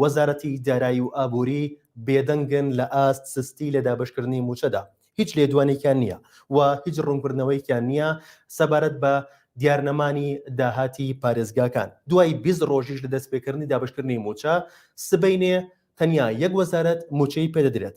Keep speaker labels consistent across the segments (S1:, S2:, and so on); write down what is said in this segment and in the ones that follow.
S1: وەزارەتی دارایی و ئابووری بێدەنگن لە ئاست سستی لە دابەشکردنی مووچەدا، هیچ لێدوانێکیان نییە و هیچ ڕوونکردنەوەیەکیان نییە سەبارەت بە دیارنەمانی داهاتی پارێزگاکان، دوای بیست ڕۆژیش لە دەستپێکردنی دابەشکردنی مووچە، سبەینێ تەنیا یەک وەزارەت مووچەی پێدەدرێت.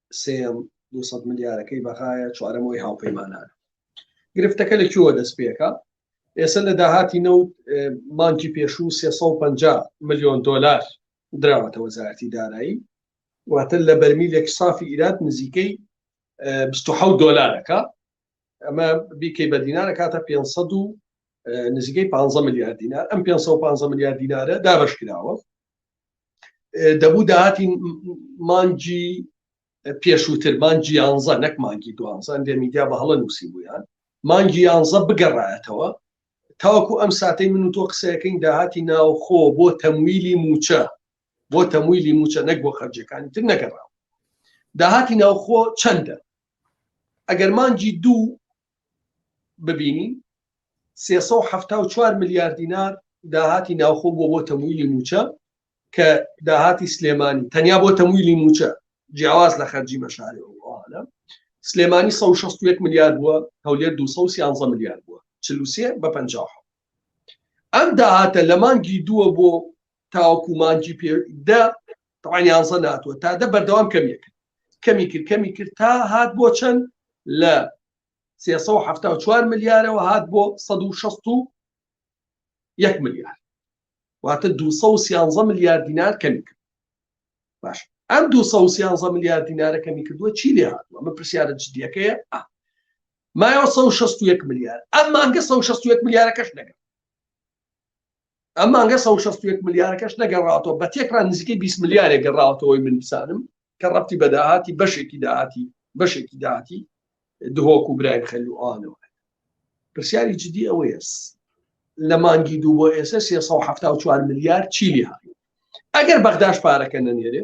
S2: سێیەم دوو سەد ملیارەکەی بەغایە چوارەم ئەوی هاوپەیمانانە گرفتەکە لە کوێوە دەست پێکا ئێستا لە داهاتی نەوت مانکی پێشوو 350 میلیۆن دلار دراوەتە وەزارەتی دارایی واتە لە بەرمیلێک سافی ئیرات نزیکەی 26 دلارەکە ئەمە بیکەی بە دینارە کاتە 500 و نزیکەی 15 میلیارد دینار ئەم 550 میلیارد دینارە دابش کراوە دەبوو داهاتی مانگی پێشووتر مانگی یانزە نەک مانگی دوانزان دێ میدیا بە هەڵە نووسی بوویان مانگی یانزە بگەڕایەتەوە تاوەکو ئەم ساتەی من و تۆ قسەکەین داهاتی ناوخۆ بۆ تەمویلی موچە بۆ تەمویلی موچە نەک بۆ خەرجەکانی تر نەگەڕاوە داهاتی ناوخۆ چەندە ئەگەر مانگی دوو ببینین، سێ سەد و حەفتا و چوار ملیار دینار داهاتی ناوخۆ بووە بۆ تەمویلی مووچە، کە داهاتی سلێمانی تەنیا بۆ تەمویلی مووچە جیاواز لە خەرجی مەشاریع و ئەوانە، سلێمانی سەد و شەست و یەک ملیار بووە، هەولێر دوو سەد و سیانزە ملیار بووە، چل و سێ بە پەنجا و حەوت. ئەم داهاتە لە مانگی دووە بۆ تاوەکو مانگی دە تەوان یانزە ناتوە تا دە بەردەوام کەمیە کرد کەمی کرد کەمی کرد تا هات بۆ چەند لە 374 ملیارەوە هات بۆ 1660 یەک ملیار واتە 213 ملیار دینار کەمی کرد باش ئەم 213 ملیار دینارە کەمی کردووە چی لێ هاتووە من پرسیارە جدیەکەیە مایەوە 1661 ملیار ئەم مانگە 1661 ملیارەکەش نەگەن ئەم مانگە سەد و شەست و یەک ملیارەکەش نەگەڕاتەوە بە تێکڕا نزیکەی بیست ملیارێک گەڕاوەتەوەی من بزانم کە ڕەبتی بە داهاتی بەشێکی داهاتی بەشێکی داهاتی دهۆک و برایم خەل و ئەوانەوە پرسیاری جدی ئەوەیە لە مانگی دوو بۆ ئێستا 374 ملیار چی لێ هاوی ئەگەر بەغداش پارەکە نەنێرێ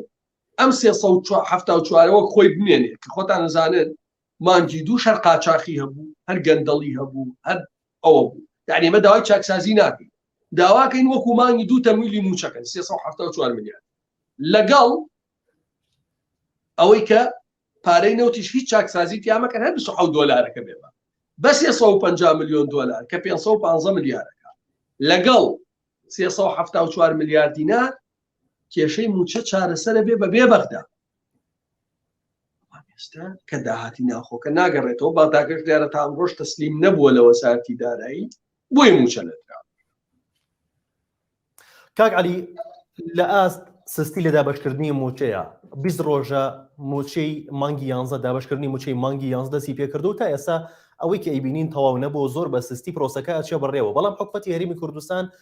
S2: ئەم 374ەوە خۆی بمێنێ کە خۆتان نزانن مانگی دووش هەر قاچاخی هەبوو هەر گەندەڵی هەبوو هەر ئەوە بوو یعنی ئێمە داوای چاکسازی ناکەین داواکەین وەکو مانگی دوو تەمویلی موچەکەن 374 ملیار لەگەڵ ئەوەی کە پارەی نەوتیش هیچ چاکسازی تیامەکەن هەر 26 دۆلارەکە بێ بە 350 میلیۆن دلار کە 515 ملیارەکە لەگەڵ 374 ملیار دینار کێشەی موچە چارەسەرە بێ بە بێ بەغدا ئێستا کە داهاتی ناخۆکە ناگەڕێتەوە بەغداگەش دیارە تا ئەمڕۆژ تەسلیم نەبووە لە وەسارتی دارایی بۆی موچە نەدرا
S1: کاک علی لە ئاست سستی لە دابشکردنی موچەیە بی ڕۆژە موچەی مانگی یانزە دابشکردنی موچەی مانگی یانزدەسی پێکردو تا ئێستا ئەوەی کە ئەیبینین تەواو نەبوو زۆر بە سستی پرۆسەکە ئەچێ بڕێەوە بەڵام حکوەتی هەرمی کوردستان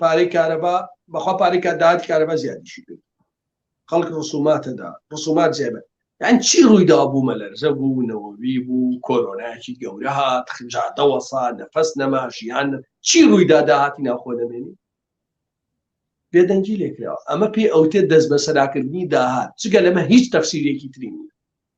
S2: پارەی کارەبا بەخوا پارەی کا داهاتی کارەبا زیادیشی کرد خەڵک ڕسوماتەدا ڕسومات زیابێت یان چی ڕوویدا بوو مەلەرزە بوو نەوەوی بوو کۆرۆنایکی گەورە هات خجاتە وەسا نەفەس نەما ژیان چی ڕوویدا داهاتی ناخۆ نەمێنی بێدەنگی لێکراوە ئەمە پێی ئەوتێ دەست بەسەراکردنی داهات چگە لەمە هیچ تەفسیرێکی ترین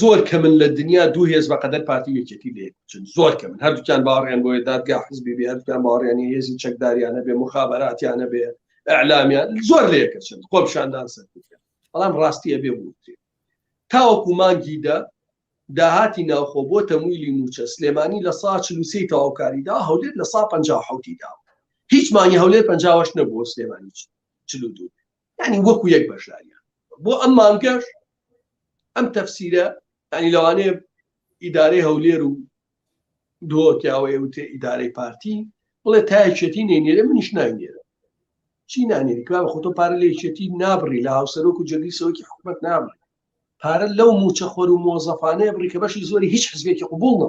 S2: زۆر کە من لە دنیا دوو هێز بە قەدەر پارتی یەکێتی لێ چن زۆر کە من هەردووکیان باڕیان بۆیە دادگا حزبی بێ هەردووکیان باڕیانی هێزی چەکداریانە بێ مخابراتیانە بێ ئەعلامیان زۆر لێکە چن خۆپشاندان سەر بەڵام ڕاستیە بێ بووتێ تاوەکو مانگی دە داهاتی ناوخۆ بۆ تەمویلی موچە سلێمانی لە سا چلوسی تەواوکاریدا هەولێت لە سا پ حوتی داوە هیچ مانگی هەولێر پەنجاوەش نەبووە سلێمانی چلو دوو یانی وەکو یەک بەشداریان بۆ ئەم مانگەش ئەم تەفسیرە ینی لەوانەیە ئیدارەی هەولێر و دۆکیاوەیە وتێ ئیدارەی پارتی بڵێ تایچێتی نێنێرە منیش ناینێرە چی نانێری کار بە خۆتۆ پارە لە یەکێتی نابڕی لە هاوسەرۆک و جەگری سەوەکی حکومت نابڕی پارە لەو موچەخۆر و مۆزەفانەیە بڕی کە بەشی زۆری هیچ حزبێکی قوبوڵ نە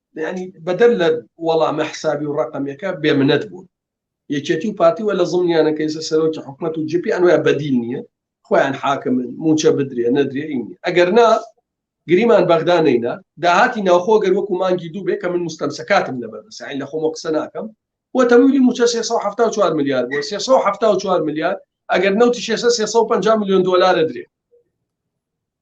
S2: یانی بەدەر لە وەڵامە حسابی و ڕقەمەکە بێمنەت بوون یەکێتی و پارتی وە لە زڵنیانە کەیسە سەرۆکی حکومت و جپی ئەنوە بەدیل نییە خۆیان حاکمن موچە بدرێ نەدرێ ئینی ئەگەر نا گریمان بەغدا نینە داهاتی ناوخۆ گەر وەکو مانگی دوو بێ کە من مستەمسەکاتم لەبەردەسین لە خۆمە قسە ناکەم وە تەمویلی موچە 374 میلیارد بۆ 374 میلیارد ئەگەر نەوتی 650 میلیۆن دلار درێ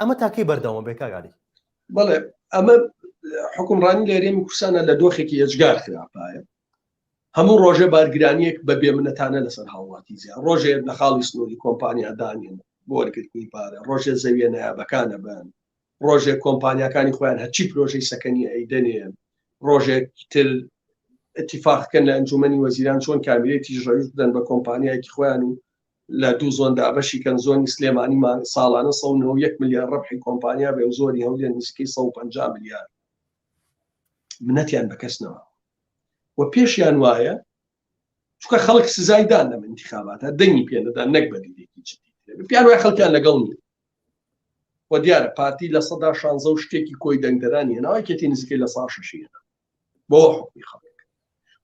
S1: ئەمە تا کەی بەردەوام بێ کاک عەلی؟ بەڵێ
S2: ئەمە حکومڕانی لێرێمی کوردستانە لە دۆخێکی ئێجگار خراپایە هەموو ڕۆژێ بارگرانیەک بە بێمنەتانە لەسەر هاوڵاتی زیان ڕۆژێ لە خاڵی سنووری کۆمپانیا دانێن بۆ وەرگرتنی پارە ڕۆژێ زەویە نایابەکانە بن ڕۆژێ کۆمپانیەکانی خۆیان هەچی پرۆژەی سەکەنی ئەیدەنێن ڕۆژێک تر اتفاقکەن لە ئەنجومی وەزیران چۆن کامیرێتی ژەویش بدەن بە کۆمپانیایکی خۆیان و لە دوو زۆن دابەشی کەن، زۆنی سلێمانی ساڵانە سەد و نەوە و یەک ملیار رەبحی کۆمپانیا بێ و زۆنی هەولێر نزیکەی سەد و پەنجا ملیار، منەتیان بە کەس نەما و پێشیان وایە، چونکە خەڵک سزای دان لەم ئینتیخاباتە، دەنگی پێ نەدان نەک بە دیدێکی جدی، پێیان وایە خەڵکیان لەگەڵ نییە و دیارە پارتی لە سەدا شانزە و شتێکی کۆی دەنگدەرانی هێناوە، یەکێتی نزیکەی لە سەدا شەشی هێناوە. بۆ حکومی خەڵک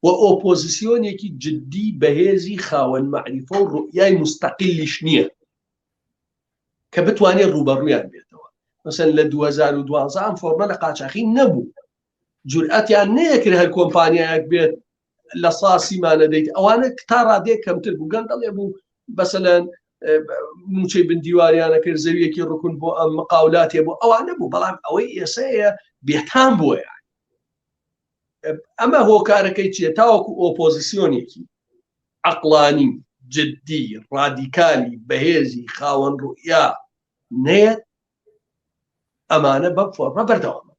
S2: و ئۆپۆزیسیۆنێکی جددی بەهێزی خاوەن مەعریفە و ڕوئیای مستەقلیش نییە کە بتوانێت ڕوبەڕویان بێتەوە مەسەن لە 2012 ئەم فۆرمە لە قاچاخی نەبوو جورئەتیان نەیەکرد هەر کۆمپانیایەک بێت لە ساسیمانە دەیت ئەوانە تا ڕادێک کەمتر بوو گەندەڵێ بوو بەسەلەن موچەی بندیواریانە کرد زەویەکی ڕکون بۆ ئەم مقاولاتێ بۆ ئەوانە بوو بەڵام ئەوەی ئێسەیە بێتان بۆیە ئەمە هۆکارەکەی چیە تاوەکو ئۆپۆزیسیۆنێکی عقلانی جددی ڕادیکالی بەهێزی خاوەن ڕوئیا نێت ئەمانە بەم فۆرمە بەردەوام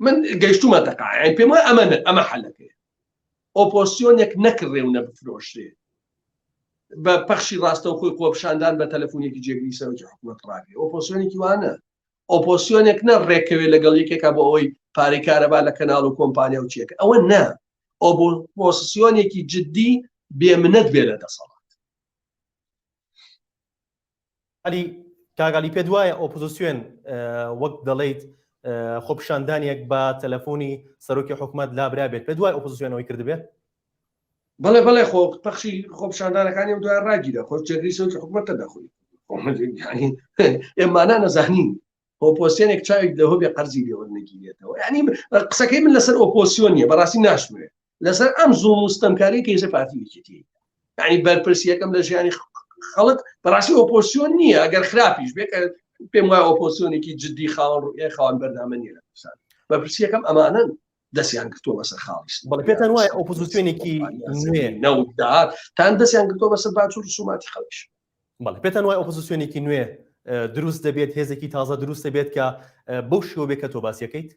S2: من گەشتومە دەقاعین پێم وای ئەمە ئەمە حەلەکەی ئۆپۆسیۆنێک نەکڕێ و نەبفرۆشرێ بە پەخشی ڕاستەوخۆی خۆپشاندان بە تەلەفۆنێکی جێگری سەرۆکی حکوومەت ڕاگرێ ئۆپۆسیۆنێکی وانە ئۆپۆسیۆنێک نە ڕێکەوێ لەگەڵ یەکێکا بۆ ئەوەی پارەی کارەبا لە کەناڵ و کۆمپانیا و چێک ئەوە نە ئۆپۆسیۆنێکی جددی بێمنەت بێ لە دەسەڵات
S1: عەلی کاک عەلی پێت وایە ئۆپۆزیسیۆن وەک دەڵیت خۆپیشاندانێک بە تەلەفۆنی سەرۆکی حکومت لابرابێت پێت وای ئۆپۆزیسیۆنەوەی کردبێت
S2: بەڵێ بەڵێ خۆ پەخشی خۆپشاندانەکانی دوای ڕاگیرە خۆ جێگری سەوتی حکوومەتە دەخۆی ئێمانە نەزانین ئۆپۆسیۆنێک چاوێک دەهۆ بێ قەرزی لێوە نەگیرێتەوە ینی قسەکەی من لەسەر ئۆپۆسیۆنیە بەڕاستی ناشمێت لەسەر ئەم زوڵم و ستەمکاری کە ێزە پارتی یەکێتی یعنی بەرپرسیەکەم لە ژیانی خەڵک بەڕاستی ئۆپۆسیۆن نییە ئەگەر خراپیش بێت پێم وای ئۆپۆسیۆنێکی جددی خاوەن ڕوئای خاوەن بەردامە نیە لە کوردستان بەرپرسیەکەم ئەمانن دەستیان گرتووە بەسە خاڵیش بەڵ پێتان وایە
S1: ئۆپۆزیسیۆنێکی نەوت داهات
S2: تان دەستیان گرتووە بەسەر باچ و رسوماتی خەڵکیش بەڵێ پێتان وایە
S1: ئۆپۆزیسیۆنێکی نوێ دروست دەبێت هێزێکی تازە دروست دەبێت کە بەو شێوە بێت کە تۆ باسیەکەیت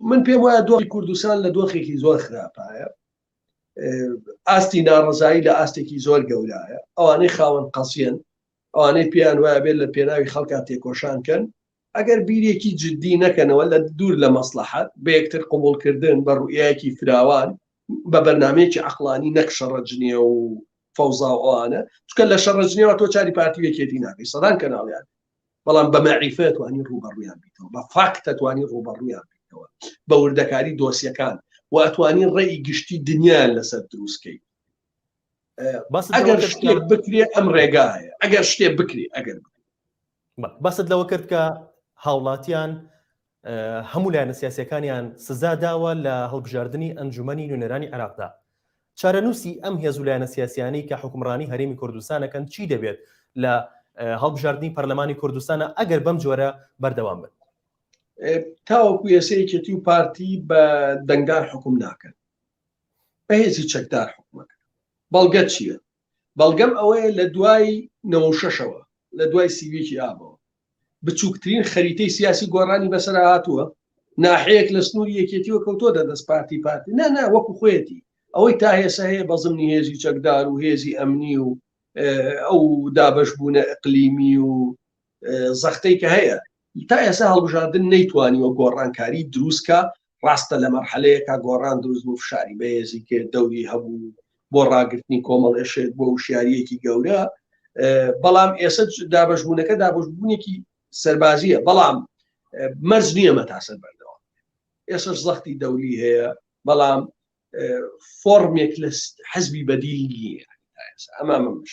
S2: من پێم وایە دۆخی کوردستان لە دۆخێکی زۆر خراپایە ئاستی ناڕزایی لە ئاستێکی زۆر گەورایە ئەوانەی خاوەن قەسیەن ئەوانەی پێیان وایە بێت لە پێناوی خەڵکا تێکۆشان کەن ئەگەر بیرێکی جدی نەکەنەوە لە دوور لە مەسڵەحەت بە یەکتر قبوڵ کردن بە ڕوئیایەکی فراوان بە بەرنامەیەکی عەقڵانی نەک شەڕە جنێو و فەوزا و ئەوانە چونکە لە شەڕە جنێوە تۆ چاری پارتی و یەکێتی ناکەی سەدان کەناڵیان بەڵام بە مەعریفە توانی ڕوبەڕویان بیتەوە بە فاکتە توانی ڕوبەڕویان بیتەوە بە وردەکاری دۆسیەکان و ئەتوانی ڕێی گشتی دنیایان لەسەر دروستکەی بەس ئەگەر شتێک بکرێ ئەم ڕێگایە ئەگەر شتێ بکرێ ئەگەر بکرێ.
S1: باست لەوە کرد کە هاوڵاتیان هەموو لایەنە سیاسەکانیان سزا داوە لە هەڵبژاردننی ئەنجومنی نوێنەرانی عراقدا چارەنووسی ئەم هێز و لایەنە سیاسیانی کە حکومڕانی هەرێمی کوردستانەکەن چی دەبێت لە هەڵبژاردننی پەرلەمانی کوردستانە ئەگەر بەم جۆرە بەردەوام بن
S2: تاوەکو یەسەیەکێتی و پارتی بە دەنگدار حکوم ناکەن بە هێزی چەکدار حکومەکە بەڵگە چییە بەڵگەم ئەوەیە لە دوای نەوە شەشەوە لە دوای سیویکی ئابەوە بچووکترین خەریتەی سیاسی گۆڕانی بەسەر هاتووە ناحەیەک لە سنووری یەکێتیوە کەوتۆ دەدەست پارتی پارتی نا نا وەکو خۆیەتی ئەوەی تا هێسە هەیە بە زمنی هێزی چەکدار و هێزی ئەمنی و ئەو دابش بوونە ئەقلیمی و زەختەی کە هەیە تا ئێستا هەڵبژاردن نەیتوانیوە گۆڕانکاری دروست کا، ڕاستە لە مەرحەلەیەکا گۆڕان دروست بوو فشاری بەهێزی کرد دەوری هەبوو بۆ ڕاگرتنی کۆمەڵێشێک بۆ وشیاریەکی گەورە بەڵام ئێستا دابشبوونەکە دابشبوونێکی سەربازیە بەڵام مەرج نییە مەتاسەر بەردەوام ئێسش زەختی دەولی هەیە بەڵام فۆرمێک لە حزبی بەدیل نییە ئەمە مەمش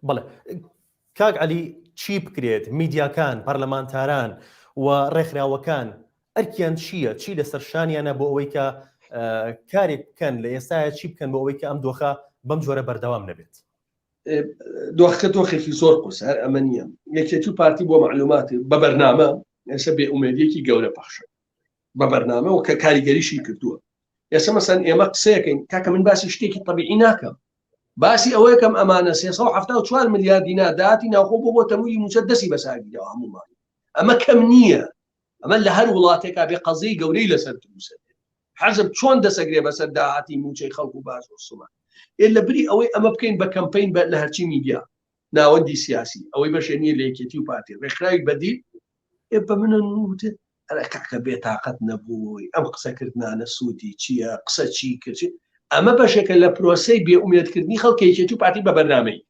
S1: بڵێ کاک علی چی بکرێت میدیاکان پەرلەمانتاران و ڕێکخراوەکان ئەرکیان چییە چی لەسەر شانیانە بۆ ئەوەی کە کارێک بکەن لە ئێستاە چی بکەن بۆ ئەوەی کە ئەم دۆخە بەم جۆرە بەردەوام نەبێت
S2: دۆخەکە دۆخێکی زۆر قوس هەر ئەمە نییە یەکێتی و پارتی بۆ معلوماتی بە بەرنامە ئێستا بێ ئومێدیەکی گەورە پەخشە بە بەرنامە و کە کاریگەریشی کردووە ئێستا مەسەن ئێمە قسەکەین کاکە من باسی شتێکی طببیعی ناکەم باسی ئەوەیەکەم ئەمانە 374 ملیار دینا داتی ناوخۆ بۆ بۆ تەمویلی موچە دەسی بەساگیرەوە هەمومان ئەمە کەم نییە ئەمە لە هەر وڵاتێکا بێ قەزەی گەورەی لەسەر دروسە حەزب چۆن دەسەگرێ بەسەر داهاتی موچەی خەڵک و باز و سومان ئێ لە بری ئەوەی ئەمە بکەین بە کەمپین بە لە هەرچی میدیا ناوەندی سیاسی ئەوەی بەشێ نیە لە یەکێتی و پارتی ڕێکخراوی بەدیل ئێ بە منە نووتێ ئەرە کاکە بێتاقەت نەبووی ئەم قسەکردانە سوودی چییە قسە چی کرد ئەمە بەشێکە لە پرۆسی بێ ئومێدکردنی خەڵکێکێتی و پارتی بە بەرنمەی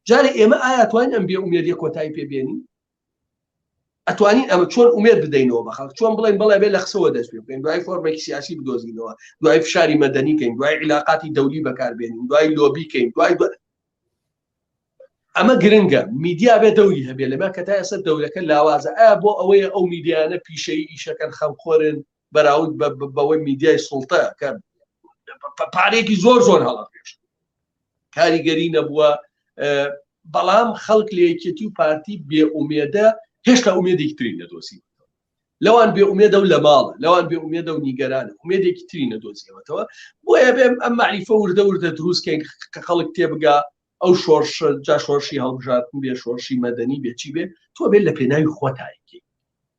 S2: جارێ ئێمە ئایا توانین ئەم بێ ئومێدی کۆتایی پێبێنین ئەتوانین ئەمە چۆن ئومێد بدەینەوە بە خەڵک چۆن بڵێن بەڵێ بێ لە قسەوە دەست پێ بکەین دوای فۆرمێکی سیاسی بدۆزینەوە دوای فشاری مەدەنی کەین دوای عیلاقاتی دەولی بەکاربێنین دوای لۆبی کەین دوای ئەمە گرنگە میدیا بێ دەوری هەبێ لەمە کە تا ئێستا دەورەکە لاوازە ئا بۆ ئەوەیە ئەو میدیانە پیشەی ئیشەکەن خەمخۆرن بەراود بەوەی میدیای سوڵتە کە پارێکی زۆر زۆر هەڵە پێش کاریگەری نەبووە بەڵام خەڵک لە یەکێتی و پارتی بێ ئومێدە هێشتا ئومێدێکی تری نەدۆسی لەوان بێ ئومێدە و لە ماڵە لەوان بێ ئومێدە و نیگەرانە ئومێدێکی تری نەدۆزیەوەتەوە بۆیە بێم ئەم معریفە وردە وردە دروستکەین کە خەڵک تێبگا ئەو شۆرش جا شۆرشی هەڵبژاردن بێ شۆرشی مەدەنی بێ چی بێ تۆ بێت لە پێناوی خۆتایکی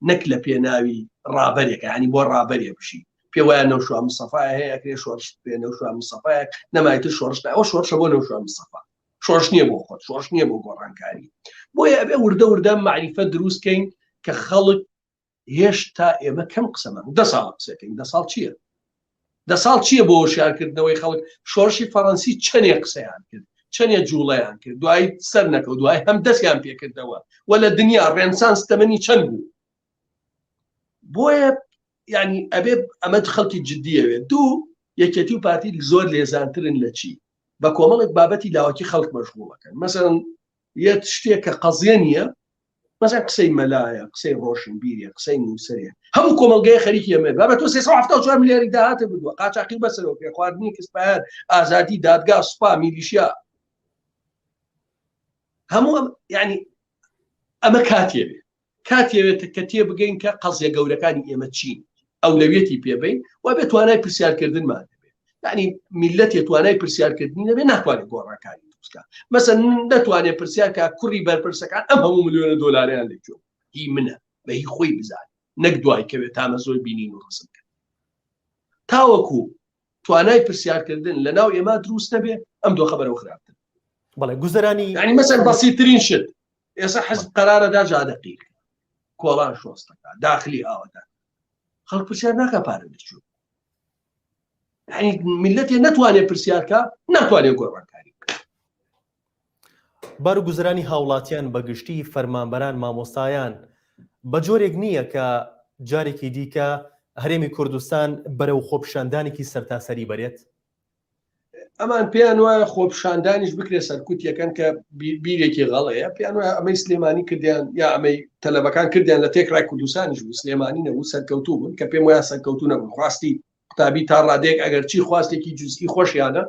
S2: نەک لە پێناوی ڕابەرێکە ینی بۆ ڕابەرێ بشی پێ وایە نەوشوا مسەفای هەیە ئەکرێ شۆرش پێ نەوشوا مسەفایەک نەمایتە شۆرش ئەوە شۆرشە بۆ نەوشوا مسەفا شۆرش نییە بۆ خۆت شۆرش نییە بۆ گۆڕانکاری بۆیە ئەبێ وردە وردە معریفە دروستکەین کە خەڵک هێشتا ئێمە کەم قسەمان دە ساڵ قسەکەین دە ساڵ چییە دە ساڵ چییە بۆ شارکردنەوەی خەڵک شۆڕشی فەڕەنسی چەندێ قسەیان کرد چەندێ جوڵەیان کرد دوای سەر نەکە دوای هەم دەستیان پێکردەوە و لە دنیا ڕێنسان ستەمەنی چەند بوو بۆیە ینی ئەبێ ئەمە خەڵکی جددیەوێت دوو یەکێتی و پارتی زۆر لێزانترن لە چی بە کۆمەڵێک بابەتی لاوەکی خەڵک مەشغوڵەکەن مەسەن یەت شتێکە قەزیە نیە مەزان قسەی مەلایە قسەی ڕۆشن بیرە قسەی نووسەرێ هەموو کۆمەلگای خەریکی ئەمێ بابە تۆ 374 ملیاری داهاتە بردووە قاچاقی بەسەرەوە پێ خواردنی کەسپایان ئازادی دادگا سوپا میلیشیا هەموو ینی ئەمە کاتێ بێ کاتیەوێت کە تێبگەین کە قەزیە گەورەکانی ئێمە چین ئەولەویەتی پێبین و بێ توانای پرسیارکردنمان دەبێت یعنی میلەتێ توانای پرسیارکردنی نەبێ ناتوانێت گۆڕانکاری دروستکە مەسە دەتوانێت پرسیارکە کوڕی بەرپرسەکان ئەم هەموو ملیۆنە دۆلاریان لەکوێ هی منە بە هی خۆی بزانێت نەک دوای کەوێت تامە زۆر بینین و ڕسم کرد تاوەکو توانای پرسیارکردن لە ناو ئێمە دروست نەبێ ئەم دۆخە بەرەو خراپتر بەڵێ گوزەرانی
S1: ینی مەسەر بەسیترین
S2: شت ئێستا حەز قەرارەدا جادەقی کۆڵان شۆستەکە داخلی ئاوەدا خەڵک پرسیار ناکە پارە دەچوو میلەتێ نەتوانێت پرسیارکە ناتوانێت گۆڕانکاری
S1: بارگوزرانی هاوڵاتیان بەگشتی فەرمانبەران مامۆستایان بەجۆرێک نییە کە جارێکی دیکە هەرێمی کوردستان بەرەو خۆپیشاندانێکی سەرتاسەری بەرێت؟
S2: ئەمان پێیان وایە خۆپیشاندانیش بکرێت سەرکوت یەکەن کە بیرێکی غەڵەیە پێیان وایە ئەمەی سلێمانی کردیان یا ئەمەی تەلەبەکان کردیان لە تێکڕای کوردستانیش بوو سلێمانی نەبوو سەرکەوتوو بوون کە پێم وایە سەرکەوتوو نەبوون خواستی قوتابی تا ڕادێک ئەگەر چی خواستێکی جزئی خۆشیانە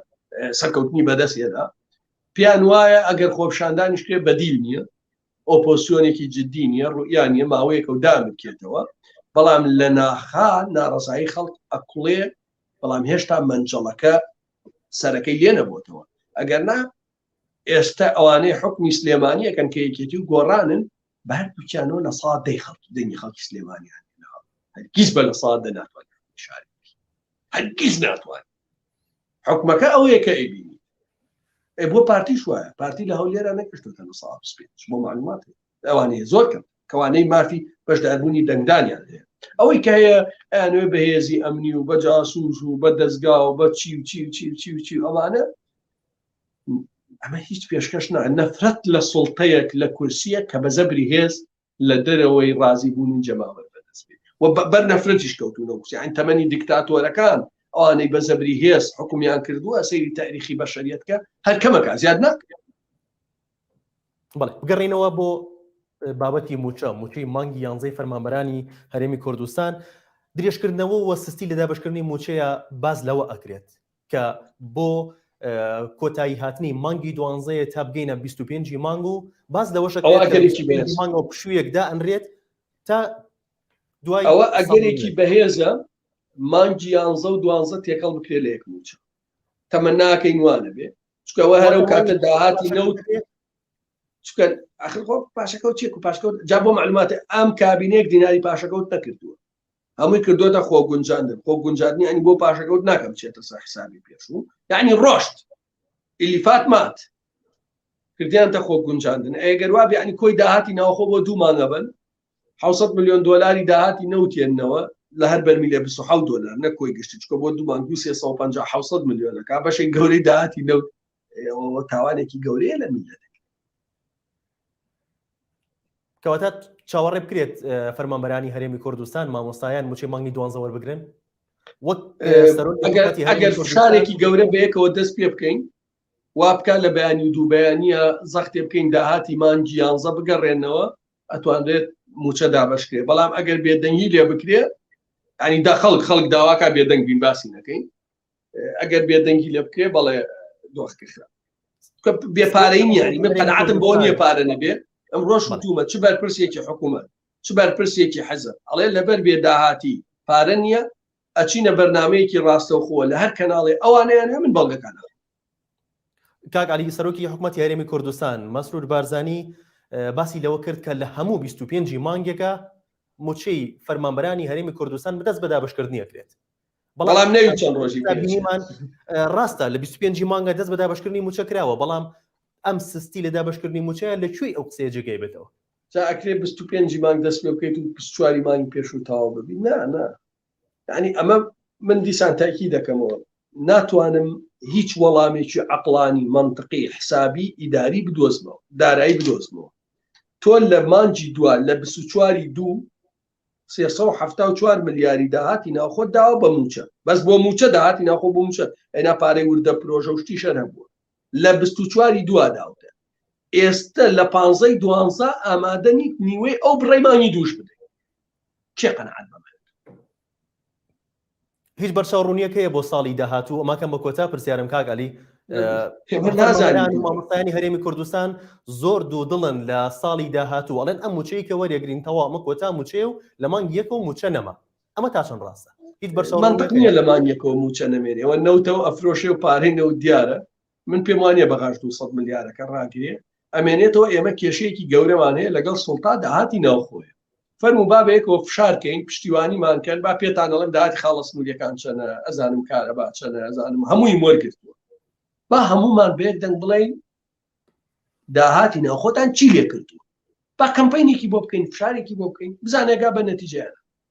S2: سەرکەوتنی بەدەستێدا پێیان وایە ئەگەر خۆپشاندانیش کرێ بەدیل نییە ئۆپۆسیۆنێکی جددی نییە ڕوئیان نیە ماوەیەکە و دامکێتەوە بەڵام لە ناخا ناڕزایی خەڵک ئەکڵێ بەڵام هێشتا منجەڵەکە سەرەکەی لێ نەبووتەوە ئەگەر نا ئێستا ئەوانەی حکمی سلێمانیەکەن کە یەکێتی و گۆڕانن بە هەردوو کیانەوە لە سا دەی خەڵکی دەنگی خەڵکی سلێمانیان هەرگیز بە لە سا دە ناتوان شاری هەرگیز ناتوان حکومەکە ئەوەیە کە ئەبینی ئە بۆ پارتیش وایە پارتی لە هەولێرا نەکردوتە لە سا پێ بۆ معلومات ئەوانەیە زۆر کەم کەوانەی مافی بەشداربوونی دەنگدانیان هەیە ئەوەی کە هەیە ئەیانوێ بەهێزی ئەمنی و بە جاسوس و بە دەستگا و بە چی و چی و چی و چی و چی ئەمانە ئەمە هیچ پێشکەش نا نەفرەت لە سڵتەیەک لە کورسیە کە بە زەبری هێز لە دەرەوەی ڕازی بوون و جەماوەر بەدەست بێت و بەر نەفرەتیش کەوتونە وسیان تەمەنی دیکتاتۆرەکان ئەوانەی بە زەبری هێز حکومیان کردووە سەیری تاریخی بەشەریەتکە هەر کەمەکە زیاد ناکرێت
S1: بەڵێ بگەڕینەوە بۆ بابەتی موچە موچەی مانگی یانزەی فەرمانبەرانی هەرێمی کوردستان درێژکردنەوە وە سستی لە دابشکردنی موچەیە باز لەوە ئەکرێت کە بۆ کۆتایی هاتنی مانگی دوانزەیە تا بگەینە 25 مانگ و باز لەوەشە مانگەوە پشوویەکدا ئەنرێت تا دوای ئەوە ئەگەرێکی
S2: بەهێزە مانگی یانزە و دوانزە تێکەڵ بکرێ لە یەک موچە تەمە ناکەین وانە بێ چکەوە هەرە و کاتە داهاتی نەوت چکە ئەخر خۆ پاشەکەوت چێک و پاشکەوت جا بۆ معلوماتە ئەم کابینێک دیناری پاشەکەوت نەکردووە هەمووی کردۆتە خۆ گونجاندن خۆ گونجاندنی ئەنی بۆ پاشەکەوت ناکەم چێتە سەر حسابی پێشوو یعنی ڕۆشت ئلیفات مات کردیانتە خۆ گونجاندن ئەگەر وابێ ئەنی کۆی داهاتی ناوخۆ بۆ دوو مانگە بن 600 میلیۆن دلاری داهاتی نەوتێنەوە لە هەر بەرمی لە 26 دلار نەکۆی گشت چکە بۆ دوو مانگ 250 میلیۆنەکە بەشێک گەورەی داهاتی نەوت ئەوە تاوانێکی گەورەیە لە میلەت
S1: کەواتە چاوەڕێ بکرێت فەرمانبەرانی هەرێمی کوردستان مامۆستایان موچی مانگی دوانزە وەربگرن
S2: ئەگەر شارێکی گەورە بەیەکەوە دەست پێ بکەین وا بکە لە بەیانی و دوو بەیانە زەختێ بکەین داهاتی مانگی یانزە بگەڕێنەوە ئەتوانرێت موچە دابشکرێ بەڵام ئەگەر بێدەنگی لێ بکرێت ئەنی دا خەڵک خەڵک داواکە بێدەنگ بین باسی نەکەین ئەگەر بێدەنگی لێ بکرێ بەڵێ دۆخکە خراپ بێپارەی نیانی من قەنعاتم بۆ نییە پارە نەبێ ئەم ڕۆژ مەتومە چ بەرپرسێکی حکوومەت چ بەرپرسێکی حەزە ئەڵێ لەبەر بێ داهاتی پارە نییە ئەچینە بەرنمەیەکی ڕاستەوخۆە لە هەر کەناڵی ئەوانیان هەمن بەڵگەکان
S1: کاک علی سەرۆکی حکوومەت یاریمی کوردستان مەسرور بارزانی باسی لەوە کرد کە لە هەموو 25 مانگێکە موچەی فەرمانبەرانی هەرێمی کوردستان بدەست بە دابشکردنیەکرێت بەڵام نەوی
S2: چەند ڕۆژی بینیمان
S1: ڕاستە لە 25 مانگە دەست بە دابشکردنی موچە کراوە بەڵام ئەم سستی لە دابشکردنی موچەیە لە کوێی ئەو قسەیە جێگەی بێتەوە جا ئەکرێ
S2: 25 مانگ دەست پێ بکەیت و 24 مانگی پێش و تاوا ببی نا نا ینی ئەمە من دیسان تاکی دەکەمەوە ناتوانم هیچ وەڵامێکی عقلانی منطقی حسابی ئیداری بدۆزمەوە دارایی بدۆزمەوە تۆ لە مانجی دوا لە 24واری دوو سێ سەد و حەفتا و چوار ملیاری داهاتی ناوخۆت داوە بە مووچە بەس بۆ مووچە داهاتی ناوخۆ بۆ مووچە ئەینا پارەی وردە پرۆژە و شتی شەر هەبووە لە بیست و چواری دوا داوتە ئێستە لە پانزەی دوانزە ئامادە نیت نیوەی ئەو بڕەی مانگی دووش بدەیت کێ قەناعەت بەمە
S1: هیچ بەرچاو ڕونیەک هەیە بۆ ساڵی داهاتوو ئەماکەم بە کۆتا پرسیارم کاک علی مامۆستانی هەرێمی کوردستان زۆر دوو دڵن لە ساڵی داهاتوو ئەڵێن ئەم موچەی کە وەرەگرین تەوامە کۆتا موچەیە و لە مانگ یەک و موچە نەما ئەمە تا چەند ڕاستە هیچ بەرچاو نیە لە مانگ
S2: یەکەوە موچە نەمێنێەوە نەوتەوە ئەفرۆشێ و پارەی نەوت دیارە من پێم وانە بەغاش 200 ملیارەکە ڕاگرێ ئەمێنێتەوە ئێمە کێشەیەکی گەورەمان هەیە لەگەڵ سڵتا داهاتی ناوخۆیە فەرمو بابەیەکەوە فشارکەین پشتیوانیمان کەن با پێتانەڵم داات خاڵە سنووریەکان چەنە ئەزانم کارە با چەنە ئەزانم هەمووی وەرگرتووە با هەمومان بێک دەنگ بڵین داهاتی ناوخۆتان چی لێ کردو با کەمپینێکی بۆ بکەین فشارێکی بۆ بکەین بزانێگا بە نەتیجیان